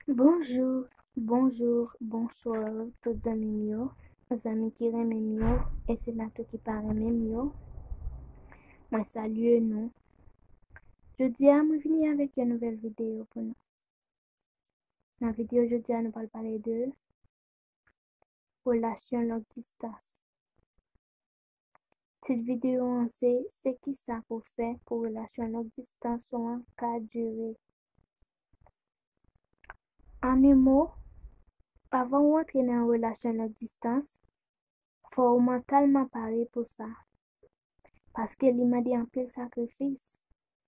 Bonjour, bonjour, bonsoir tout zanmi m yo, zanmi ki renmen m yo e sila tou ki pa renmen m yo, mwen salye nou. Jodi a mwen vini avèk yon nouvèl videyo pou nou. Nan videyo jodi a nou pral pale de relasyon long distans. Tit videyo an se Se ki sa pou fè pou relasyon long distans ou an ka dire. An un mo, avan ou antre nan yon relasyon long distans, fò ou mantalman pare pou sa. Paske li mande anpil sakrifis,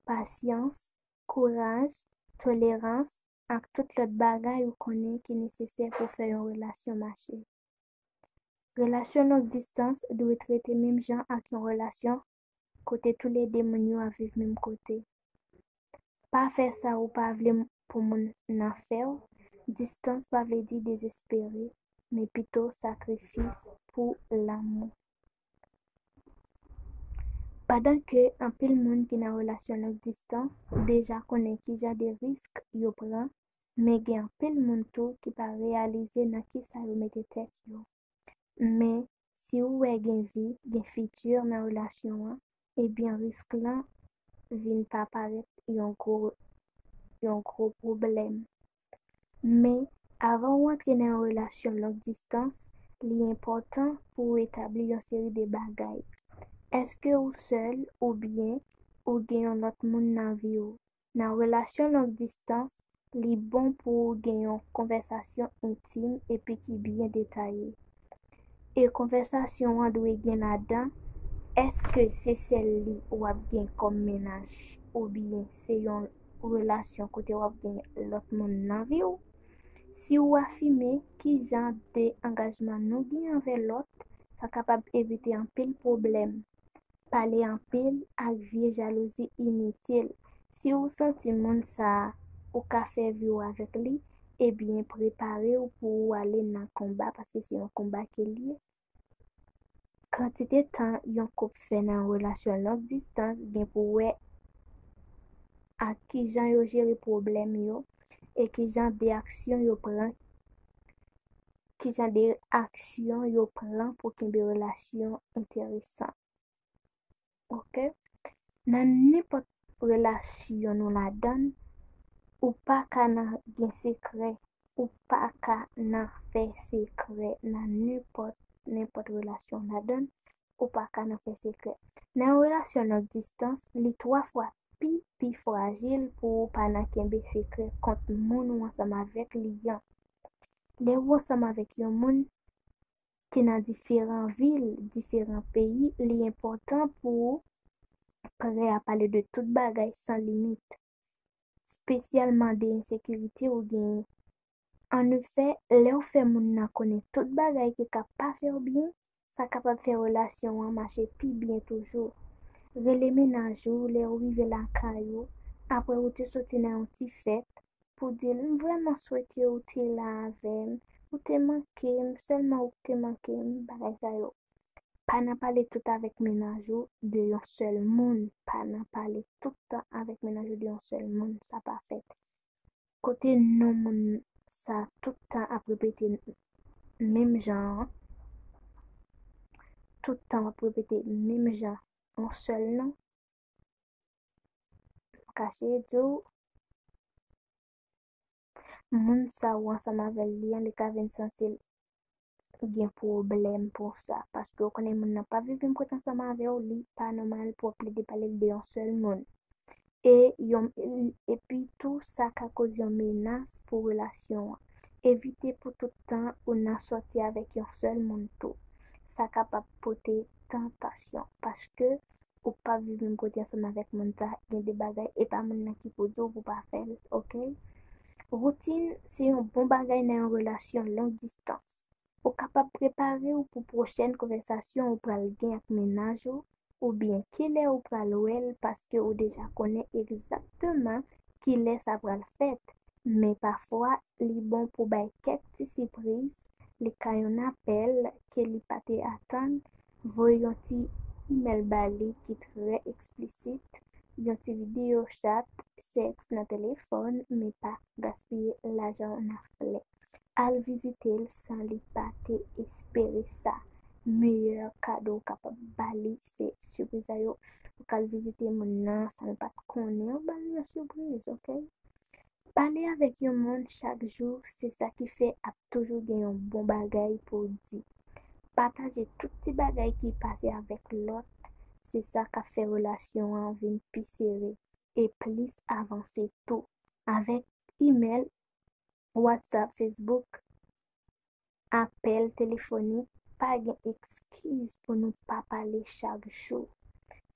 pasyans, kouraj, tolerans, ak tout lòt bagay ou konnen ki nesesè pou fè yon relasyon mache. Relasyon long distans dwe trete menm jan ak yon relasyon kote toulede moun yo ap viv menm kote. Pa fè sa ou pa vle pou moun nan fè w, distans pa vle di dezespere, men pito sakrifis pou lanmou. Pandan ke anpil moun ki nan relasyon long distans deja konnen ki jan de risk yo pran, men gen anpil moun tou ki pa reyalize nan kisa yo mete tèt yo. Men, si ou wè gen vi, gen fiti nan relasyon an, ebyen risk lan vin pa parèt yon gwo pwoblèm. Men, avan ou antre nan yon relasyon long distans, li enpòtan pou ou etabli yon seri de bagay. Èske ou sèl oubyen ou gen yon lòt moun nan vi ou? Nan relasyon long distans, li bon pou ou gen yon konvèsasyon entim epi ki byen detaye. E konvèsasyon an dwe gen ladan, èske se sèl li w ap gen kòm mennaj oubyen se yon relasyon kote w ap gen lòt moun nan vi w? Si ou afime ki jan de angajman nou gen anvè lòt, sa kapab evite anpil pwoblèm. pale anpil ak vye jalouzi initil si ou santi moun sa ou ka fè vi ou avèk li ebyen preparew pou ou ale nan konba paske se yon konba ke liye kantite tan yon koup fè nan yon relasyon long distans gen pou wè ak kijan yo jere pwoblèm yo e kijan de aksyon yo pran ki jan de aksyon yo pran pou kenbe relasyon enteresan. Ok? Nan nenpòt relasyon nou ladan, ou pa ka nan gen sekrè, ou pa ka nan fè sekrè nan nenpòt, nenpòt relasyon w ladan, ou pa ka nan fè sekrè. Nan yon relasyon long distans, li 3 fwa pi, pi frajil pou ou pa nan kenbe sekrè kont moun ou ansanm avèk li an. Lè ou ansanm avèk yon moun ki nan diferan vil, diferan peyi, li enpòtan pou ou prè a pale de tout bagay san limit, spesyalman de ensekirite ou genyen. An efè, lè ou fè moun nan konnen tout bagay ki ka pa fè ou byen, sa kapab fè relasyon an mache pi byen toujou. Rele mennaj ou lè ou rive lakay ou apre ou te soti nan yon ti fèt pou di l, M vrèman swete ou te la avè m, ou te manke m, sèlman ou k te manke m, bagay sa yo. Pa nan pale tout avèk mennaj ou de yon sèl moun, pa nan pale tout tan avèk mennaj ou de yon sèl moun, sa pa fèt. Kote non moun sa tout tan ap repete menm jan an tout tan wap repete menm jan yon sèl non m ka seye diw moun sa ou ansanm avèl li an li ka vin santil gen pwoblèm pou sa paske ou konnen moun nan pa viv menm kote ansanm avèw li pa nòmal pou wap plede pale de yon sèl moun e yon epi tou sa ka koz yon menas pou relasyon an evite pou tout tan ou nan sòti avèk yon sèl moun tou sa kapab pote tantasyon paske Ou pap viv menm kote ansanm avèk moun sa, gen de bagay e pa moun nan ki pou di w pou pa fè l, ok. Woutin se yon bon bagay nan yon relasyon long distans. Ou kapab prepare w pou pwochèn konvèsasyon ou pral gen ak mennaj ou oubyen kilè ou pral wè l paske ou deja konnen egzakteman kilè sa pral fèt, men pafwa li bon pou bay kèk ti sipriz, li ka yon apèl ke li pa te atann, Voye yon ti imèl ba li ki trè eksplisit, yon ti videyo chat, sèks nan telefòn, men pa gaspiye lajan w nan flè. Al vizite l san li pa te espere sa. Meyè kado w kapab ba li se sipriz a yo. Ou ka al vizite moun nan san l pa t konnen, ou ba l yon sipriz, oke? Pale avèk yon moun chak jou se sa ki fè ap toujou gen yon bon bagay pou w di. Pataje tout ti bagay ki pase avèk lòt se sa k ap fè relasyon an vin pi sere e plis avanse tou. Avèk imèl, Whatsapp, Facebook, Apèl telefonik Pa gen ekskiz pou nou pa pale chak jou.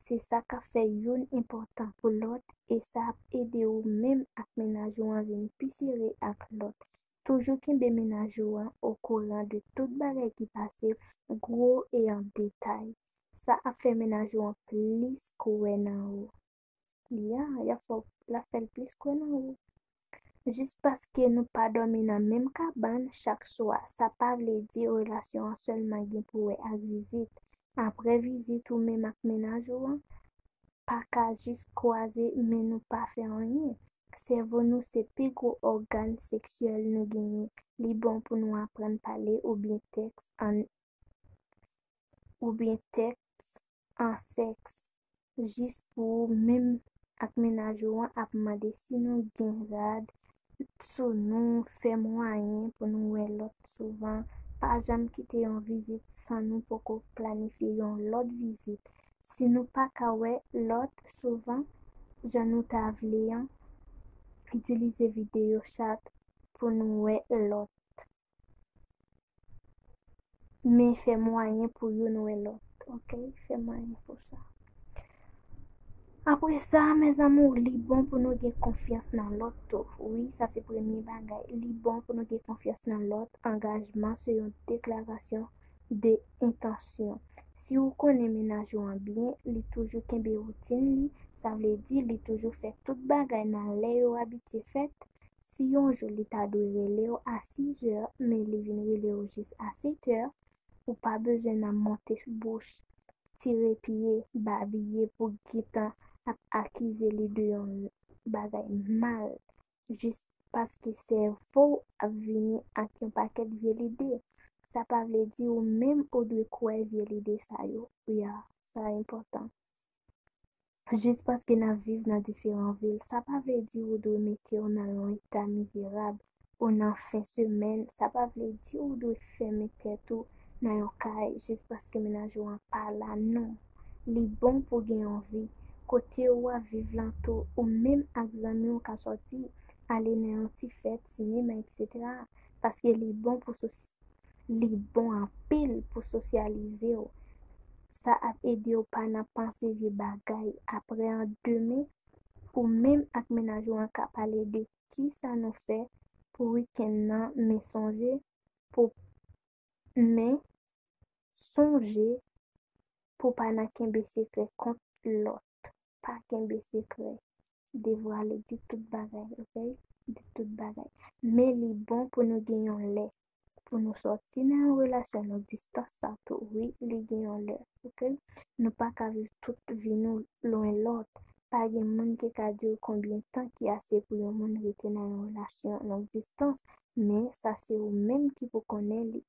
Se sa k ap fè youn enpòtan pou lòt e sa ap ede ou menm ak mennaj ou an vin pi sere ak lòt. Toujou kenbe mennaj ou an okouran de tout bagay ki pase, gwo e an detay. Sa ap fè mennaj ou an plis kwè nan ou. Li a, y ap fè w, l ap fè l plis kwè nan ou. Jis paske nou pa dòmi nan menm kabann chak swa, sa pa vle di relasyon an sèlman gen pou wè ak vizit. Aprè vizit ou menm ak mennaj ou an pa ka jis kwaze men nou pa fè anyen. Sèvo nou se pi gwo ògàn seksyèl nou genyen. Li bon pou nou aprann pale oubyen tèks an oubyen tèks a sèks jis pou ou menm ak mennaj ou an ap mande si nou gen rad sou nou fè mwayen pou nou wè lòt souvan pa janm kite yon vizit san nou poko planifye yon lòt vizit si nou pa ka wè lòt souvan jan nou ta vle an itilize videyo chat pou nou wè lòt. Men fè mwayen pou youn wè lòt. Ok, fè mwayen pou sa. Apre sa, mes amours, li bon pou nou gen konfyans nan lòt tou. Wi, sa se premye bagay. Li bon pou nou gen konfyans nan lòt. Angajman se yon deklarasyon de entansyon. Si ou konnen mennaj ou an byen, li toujou kenbe woutin li, sa vle di li toujou fè tout bagay nan lè yo abitye fèt, Si yon jou li ta dwe rele w a 6 zè men li vin rele w jis a 7 tè, ou pa bezwen nan monte bouch, tire pye, babiye pou gentan ap akize li de yon bagay mal jis paske sèvo w ap vini ak yon pakèt vye lide. Sa pa vle di ou menm ou dwe kwè vye lide sa yo. Wi a, sa enpòtan. Jis paske n ap viv nan diferan vil, sa pa vle di ou dwe mete w nan yon eta mizerab ou nan fen semèn, sa pa vle di ou dwe fèmen tèt ou nan yon kay jis paske mennaj ou an pa la. Non, li bon pou gen yon vi. Kote ou ap viv lan tou, ou menm ak zanmi w ka sòti, ale nan yon ti fèt, sinema, etc. Paske li bon pou sou. Li bon anpil pou sosyalize w. Sa ap ede w pa nan panse vye bagay. Aprè an demen, ou menm ak mennaj ou an ka pale de kisa nou fè pou wikenn nan men sonje pou men sonje pou pa nan kenbe sekrè kont lòt. Tit, Pa kenbe sekrè. Devwale, di tout bagay, ok? Di tout bagay. Men li bon pou nou gen yon lè. Pou nou sòti nan yon relasyon long distans sa tou. Wi, li gen yon lè, ok? Nou pa ka viv tout vi nou lwen lòt. Pa gen moun ki ka di w konbyen tan ki ase pou yon moun rete nan yon relasyon long distans, men sa se ou menm ki pou konnen li.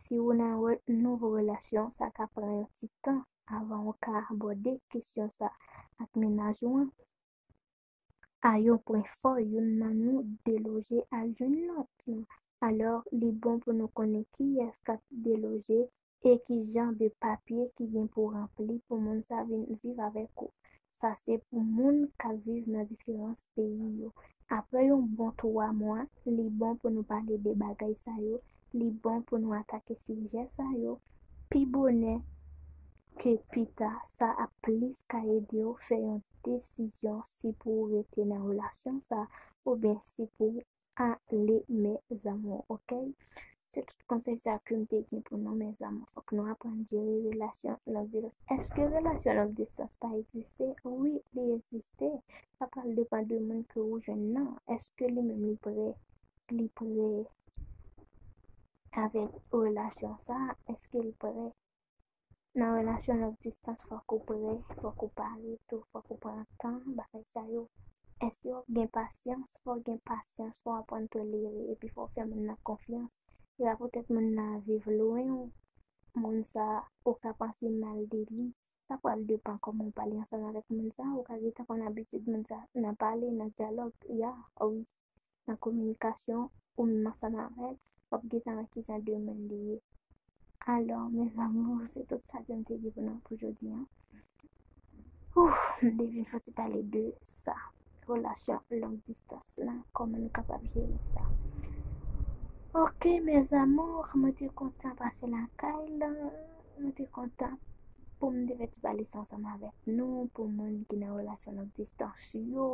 Si ou nan yon nouvo relasyon, sa ka pran yon ti tan avan ou ka abòde kesyon sa ak mennaj ou an. A yon pwen fò youn nan nou deloje al jwenn lòt lan. Alò, li bon pou nou konnen kiyès k ap deloje e ki jan de papye ki gen pou ranpli pou moun sa vin viv avèk ou. Sa se pou moun k ap viv nan diferans peyi yo. Apre yon bon twa mwa, li bon pou nou pale de bagay sa yo, li bon pou nou atake sijè sa yo pi bonè ke pi ta, sa ap plis ka ede w fè yon desizyon si pou w rete nan relasyon sa oubyen si pou w ale mes amours ok se tout konsèy sa kem te gen pou nou mes amours fòk nou aprann jere relasyon long distans eske relasyon long distans pa egziste wi li egziste sa pral depan de moun ke ou jwenn nan eske li menm li prè li prè avèk relasyon sa eske l prè Nan relasyon long distans fòk ou pre, fòk ou pale tou, fòk ou pran tan, bagay sa yo. Èske w ap gen pasyans? Fò w gen pasyans, fò w aprann tolere epi fò w fè moun nan konfyans. Se pa poutèt moun nan ap viv lwen ou, moun sa a, ou ka panse mal de li. Sa pral depan kòman w pale ansanm avèk moun sa a, ou ka gentan konn abitid moun sa a nan pale, nan dyalòg, ya, wi. nan kominikasyon ou menm ansanm avèl wap gentan wè kijan de moun li ye alò mes amours se tout sa kem te gen pou nou pou jodi an ouh m te vin fòti pale de sa relasyon long distans la kòman nou kapab jere sa ok mes amours mwen te kontan pase lakay la mwen te kontan pou m te fè ti pale sa ansanm avèk nou pou moun ki nan relasyon long distans yo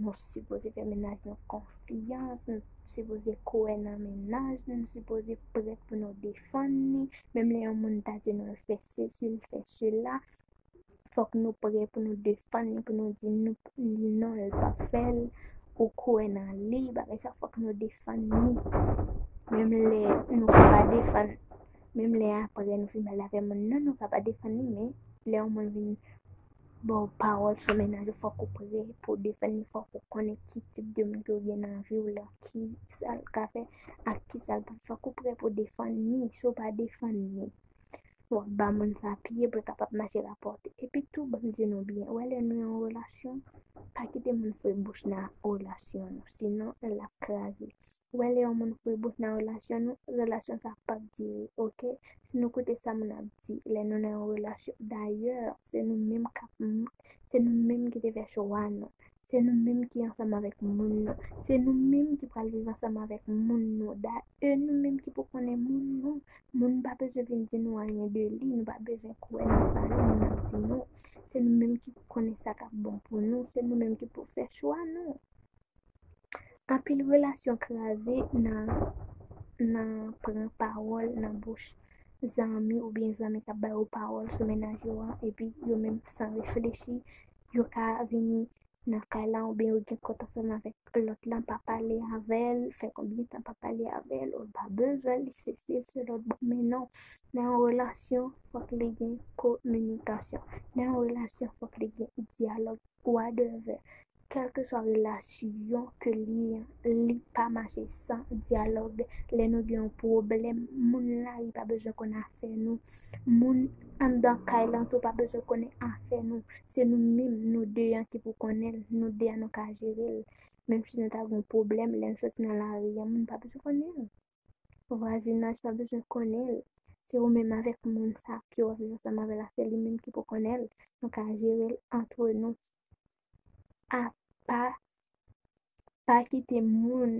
Nou sipoze fè mennaj nou konfyans, nou sipoze kwè nan mennaj nou, nou sipoze prèt pou nou defann li, menm lè yon moun ta di nou l fè sesi, l fè sela, fòk nou prè pou nou defann li, pou nou di li non l pa fè l, ou kwè nan li, bagay sa fòk nou defann li, menm lè nou ka pa defann, menm lè aprè nou fin pale avè moun nan, nou ka pa defann li, men lè yon moun vin. Bon pawòl sou mennaj ou fòk ou prè pou defann li fòk ou konnen ki tip de moun ke ou gen nan viw la ki sal ka fè ak ki sal pap fè fòk ou prè pou defann li si ou pa defann li wap ba moun sa pye poul ka pap mache rapòte epi tou banm di nou byen ou wè lè nou yon relasyon pa kite moun foure bouch nan relasyon nou sinon lap kraze Ou wè lè yon moun foure bouch nan relasyon nou, relasyon sa pap dire ok, si nou koute sa moun ap di lè nou nan yon relasyon, dayè se nou menm kap se nou menm ki te fè chwa nou, se nou menm ki ansanm avèk moun nou, se nou menm ki pral viv ansanm avèk moun nou, da e nou menm ki pou konnen moun nou, moun pa bezwen vin di nou anyen de li, nou pa bezwen kwè nan sa yon moun ap di nou, se nou menm ki pou konnen sa kap bon pou nou, se nou menm ki pou fè chwa nou. Anpil relasyon kraze nan nan pran pawòl nan bouch zanmi oubyen zanmi kap bay ou pawòl sou mennaj yo an epi yo menm san reflechi yo ka vini nan kay la oubyen yo gen kont ansanm avèk lòt lan pa pale avèl fè konbyen tan pa pale avèl ou pa bezwen li sesi se lòt bon men non nan yon relasyon fòk li gen kominikasyon nan yon relasyon fòk li gen dyalòg wa devè Kèlkeswa relasyon ke li li pa mache san dyalòg lè nou gen yon pwoblèm moun lari pa bezwen konn afè nou moun anndan kay lan tou pa bezwen konnen afè nou se nou minm nou 2 an ki pou konnenl nou 2 an nou ka jerel menm si nou ta gen yon pwoblèm lèn soti nan lari an moun pa bezwen konnenl. vwazinaj pa bezwen konnen l, se ou menm avèk moun sa ke wap viv ansanm avèl la se li menm ki pou konnen l, nou ka jerel antre nou apa pa kite moun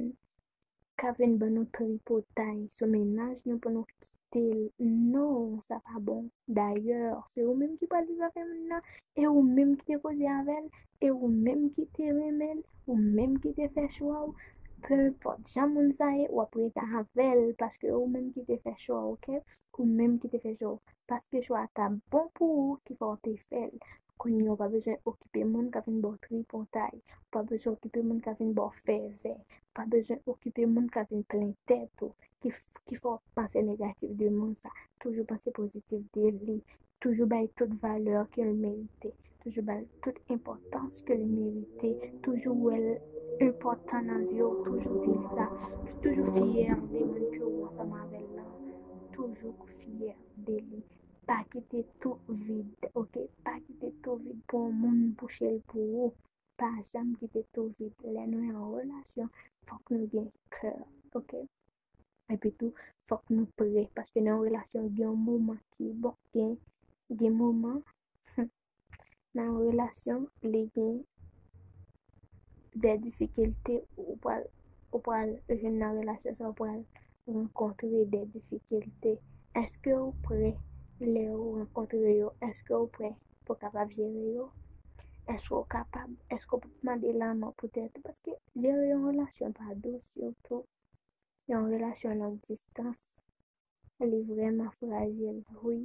kap vin ban nou tripotay sou mennaj nou pou nou kite l non sa pa bon dayè se ou menm ki pral viv avèl nan e ou menm ki te koze avèl E ou menm ki te renmen l, ou menm ki te fè chwa w, penpòt jan moun sa ye, wap rete avè l paske ou menm ki te fè chwa w ok, ou menm ki te fè chwa w, paske chwa a ta bon pou ou ki fè w te fè l. Kounye ou pa bezwen okipe moun kap vin ba w tripotay, ou pa bezwen okipe moun kap vin ba w fèzè, ou pa bezwen okipe moun kap vin plen tèt ou, ki fè w panse negatif de moun sa, toujou panse pozitif de li, Toujou bay tout valè ke l merite. Toujou ba l tout enpòtans ke l merite. Toujou wè l enpòtan nan zye w. Toujou di l sa. Toujou fyè de moun ke ou ansanm avè l lan. Toujou fyè de li. Pa kite tou vid, ok. Pa kite tou vid pou yon moun bouche l pou ou. Pa janm kite tou vid. Lè nou an relasyon, fòk nou gen kè, ok. Epi tou, fòk nou pre, paske nan yon relasyon gen yon moman ki bon, gen gen moman nan yon relasyon li gen de difikilte ou pral ou pral jwenn nan relasyon sa ou pral renkontre de difikilte. Eske ou pre lè ou renkontre yo? Eske ou pre pou kapab jere yo? Eske ou kapab? Eske ou pap mande lanmò poutèt ou? Paske jere yon relasyon pa dous sitou. Yon relasyon long distans, li vreman frajil wi.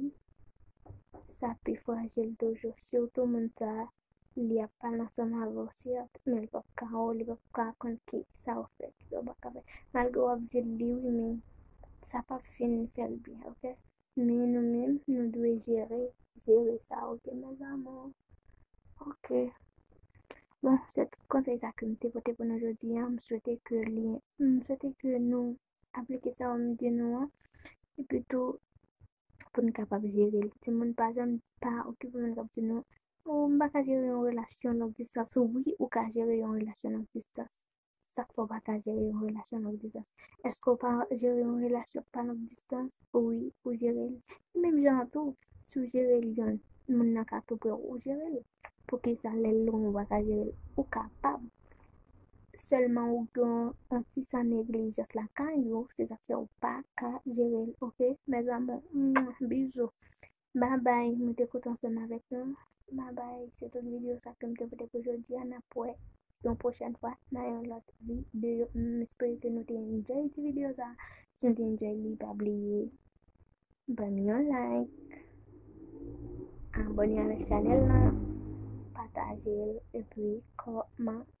Sa pi frajil toujou, sitou moun sa a, li ap pale ansanm avè w sèt, men li pap ka wè w, li pap ka konn ki sa ou fè, ki sa ou pa ka fè. Malgre w ap di l li wi men sa pap fin fè l byen ok. Men nou menm nou dwe jere jere sa ok mes amours ok bon se tout konsèy sa ke m te pote pou nou jodi an m swete ke li m swete ke nou aplike sa m di nou an epi tou pou nou kapab jere l timoun pa janm pa okipe moun k ap di nou ou m pa ka jere yon relasyon long distans wi ou ka jere yon relasyon long distans Sak fè w pa ka jere yon relasyon long distans? Eske w pa jere yon relasyon ki pa long distans? Wi, ou jere l. E menm jan an tou, si w jere l yon, moun nan ka tou pre w, ou jere l. Poukisa lè l lwen ou pa ka jere l? Ou kapab. Sèlman ou gen yon ti san neglijans lakay ou, se sak fè ou pa ka jere l, ok mes amours. Mwah! Bisous. Bye bye mwen te kontan ansanm avèk nou bye bye se tout video sa kem te pote pou jodia nap wè yon prochèn fwa nan yon lòt video m espere ke nou te enjoy ti video sa si nou te enjoy li pa bliye banm yon like abone avèk chanel nan patajel epi kòmante